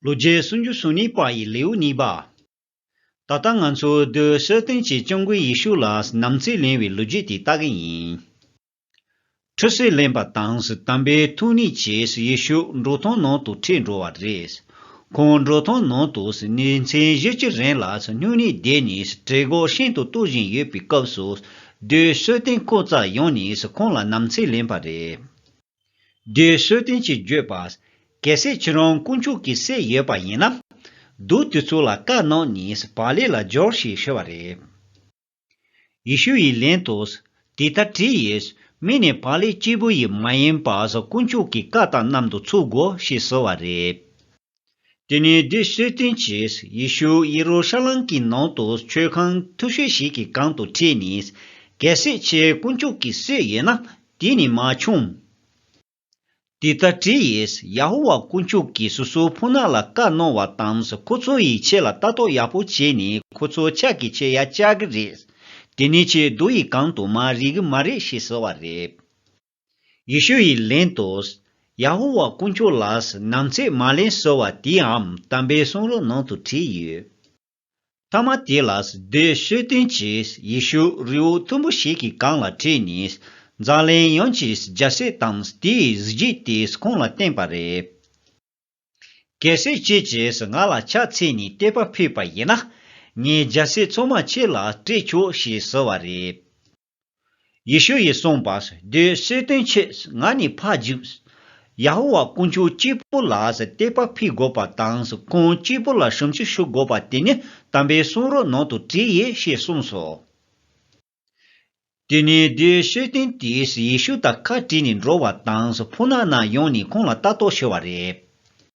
ལོ་བརྒྱའི་སུམ་ཅུ་སོ་གཉིས་པ་ཡི་ལེའུ་གཉིས་པ། ད་ལྟ་ང་ཚོས་རྡོའི་གསོལ་སྟོན་གྱིས་སྐྱབས་མགོན་ཡེ་ཤུ་ལ་ནམ་ཚིག་ལེན་བའི་ལོ་རྒྱུས་དེ་ལྟ་གི་ཡིན། ཁྲུས་གསོལ་ལེན་པ་དང་དམ་པའི་ཐུགས་ནི་གྱིས་ཡེ་ཤུ་འགྲོ་སྟངས་ནང་དུ་ཁྲིད་འགྲོ་བ་རེད། ཁོང་འགྲོ་སྟངས་ནང་དུ་ནི་མཚན་བཞི་གཅིག་རེང་ལ་སྨྱུང་གནས་བསྡད་ནས་གྲལ་འགོག་ཤིན་ཏུ་གཏོར་བཞིན་ཡོད་པའི་སྐབས་སུ་རྡོའི་གསོལ་སྟོན་ཁོ་ཙར་ཡོང་ནས་ཁོང་ལ་ནམ་ཚིག་ལེན་པ་རེད། བདུད་གསོད་རྟེན་གྱི་བརྗོད་པ། གལ་སྲིད་ཁྱེད་རང་དཀོན་མཆོག་གི་སྲས་ཡོད་པ་ཡིན་ན། བདུད་དེ་ཚོ་ལ་བཀའ་གནང་ནས་བག་ལེབ་ལ་སྦྱོར་ཞེས་ཞུ་བ་རེད། ཡེ་ཤུ་ཡི་ལན་དུ། དེ་ལྟར་བྲིས་ཡོད། མིག་ནས་བག་ལེབ་སྐྱེས་བུ་ཡིས་མ་ཡིན་པ་དཀོན་མཆོག་གི་བཀའ་དང་གནམ་དུ་ཚུགས་དགོས་ཞེས་ཟེར་བ་རེད། དེ་ནས་བདུད་གསོལ་སྟོན་གྱིས་ཡེ་ཤུ་ཡེ་རུ་ཤ་ལམ་གྱི་ནང་དུ་མཆོད་ཁང་མཐུག་ཤོས་ཤིག་གི་སྒང་དུ་ཁྲིད་ནས། གལ་སྲིད་ཁྱེད་དཀོན་མཆོག་གི་སྲས་ཡིན་ན་དེ་ནས་མ་ཕྱུང། དེ་ལྟར་དྲིས་ཡས་ཡ་ཧོ་ཝཱ་དཀོན་མཆོག་གིས་སོ་སོའི་ཕོ་ནག་ལ་བཀའ་གནང་བ་དང་ཁོ་ཚོ་ཡི་ཆེད་ལ་ལྟ་རྟོག་ཡག་པོ་བྱས་ནས་ཁོ་ཚོ་ཕྱག་གི་ཆེད་ཡ་བཅའ་གི་རེད། དེ་ནས་ཁྱེད་རྡོ་ཡི་སྒང་དུ་མ་རེག་གི་མ་རེད་ཞེས་ཟེར་བ་རེད། ཡེ་ཤུ་ཡིས་ལན་དུ། ཡ་ཧོ་ཝཱ་དཀོན་མཆོག་ལགས་སུ་ནམ་ཚེ་མ་ལན་གསོལ་བ་དེའམ་དམ་པའི་གསུང་རོལ་ནང་དུ་བྲིས་ཡོད། མཐའ་མ་དེ་ལ་སྡོད་གསོལ་སྟོན་གྱིས་ཡེ་ཤུ་རི་བོ་མཐོན་པོ་ཞིག་གི་སྒང་ལ་ཁྲིད་ནས་འཛམ་གླིང་ཡོངས་ཀྱི་རྒྱལ་སྲས་དང་དེའི་གཟི་བརྗིད་དེ་ཁོང་ལ་བསྟན་པ་རེད། གལ་སྲིད་ཁྱེད་ཀྱིས་ང་ལ་ཕྱག་འཚལ་ནས་བལྟས་པ་ཕུད་པ་ཡིན་ན། ངས་རྒྱལ་སྲས་ཚོགས་མ་ཁྱེད་ལ་སྤྲད་ཆོག་ཞེས་ཟེར་བ་རེད། ཡེ་ཤུ་ཡིས་གསུངས་པ། དེའི་གསོལ་སྟོན་ཆེད་ང་ནི་ཕ་འཇུག། ཡ་ཧོ་ཝཱ་དཀོན་མཆོག་སྐྱེས་བུ་ལ་བསྟོད་པ་ཕུལ་དགོས་པ་དང་ཁོང་སྐྱེས་བུ་ལ་ཞབས་འཇུག་ཞུ་དགོས་པ་དེ་ནི་དམ་པའི་གསུང་རོལ་ནང་དུ་བྲིས་ཡོད་ཞེས་གསུངས་སོ། དེ་ནས་དེའི་གསོལ་སྟོན་དེས་ཡེ་ཤུ་དང་ཁ་བྲལ་ནས་འགྲོ་བ་དང་ཕུ་ནག་ནག་ཡོང་ནས་ཁོང་ལ་ལྟ་རྟོག་ཞུ་བ་རེད།